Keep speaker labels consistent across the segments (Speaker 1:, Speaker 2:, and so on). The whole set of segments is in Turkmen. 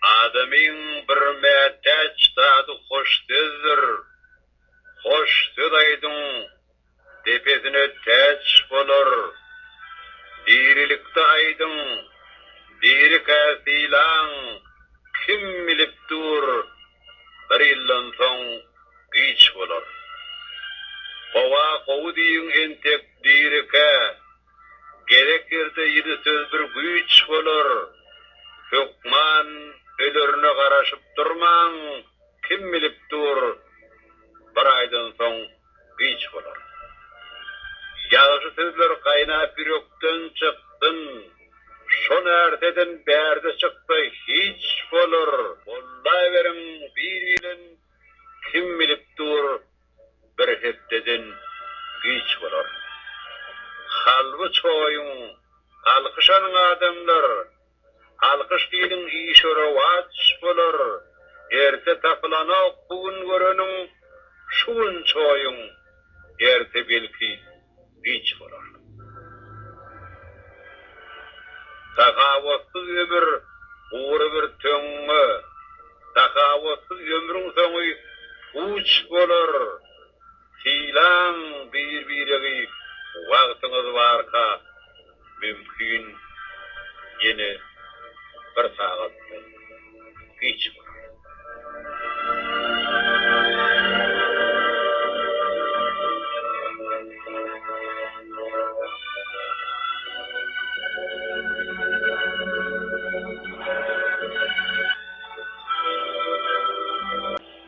Speaker 1: Adamyň bir mätäç zady hoş sözdür. Hoş söz aýdyň. depesine täç bolar. Dirilikde aýdyň, dirikä sylaň, kim bilip dur, bir ýyldan soň giç bolar. Gowa gowy diýiň entek dirikä, gerek ýerde ýedi söz bir güýç bolar. Hökman ölerine garaşyp durmaň, kim bilip dur, bir aýdan soň güýç bolar. Ýagşy sözler gaýnap ýürekden çyksyn, şo närseden bärde çyksa hiç bolar. Bollaveriň bir bilen kim bilip dur bir hepdeden güýç bolar. Halby çoýuň alkyşanyň adamlar Alkyş diýiň işe rowaç bolar Erte tapylanok bu gün göreniň Şu gün çoýuň erte belki giç bolar Sahawatsyz ömür gury bir töňňe Sahawatsyz ömrüň soňy puç bolar Sylaň bir-biregi wagtyňyz barka mümkin ýene bir sagatdan giç bolar.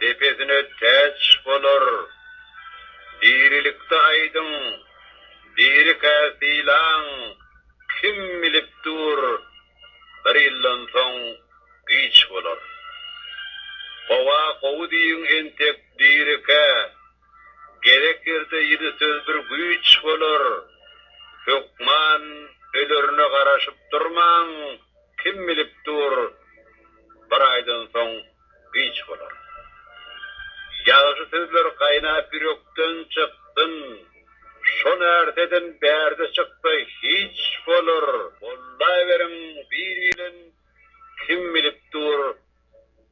Speaker 1: depesine täç bolar. Dirilikde aýdyň, dirikä sylaň, kim bilip dur, bir ýyldan soň giç bolar. Gowa gowy diýiň entek dirikä, gerek ýerde ýedi söz bir güýç bolar. Hökman ölerine garaşyp durmaň, kim bilip dur, bir aýdan soň giç bolar. Ýagşy sözler gaýnap ýürekden çyksyn, şo närseden bärde çyksa hiç bolar. Bollaveriň bir bilen kim bilip dur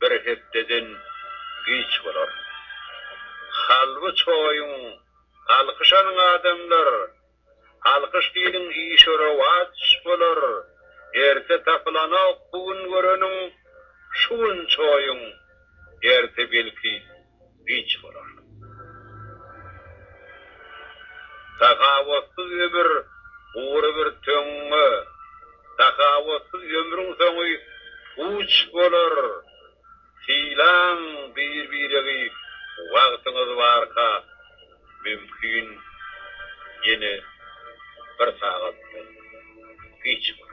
Speaker 1: bir hepdeden giç bolar. Halby çoýuň alkyşanyň adamlar Alkyş diýiň işe rowaç bolar Erte tapylanok bu gün göreniň Şu gün çoýuň erte belki giç bolar Sahawatsyz ömür gury bir töňňe Sahawatsyz ömrüň soňy puç bolar Sylaň bir-biregi wagtyňyz barka mümkin ýene bir sagatdan giç bolar.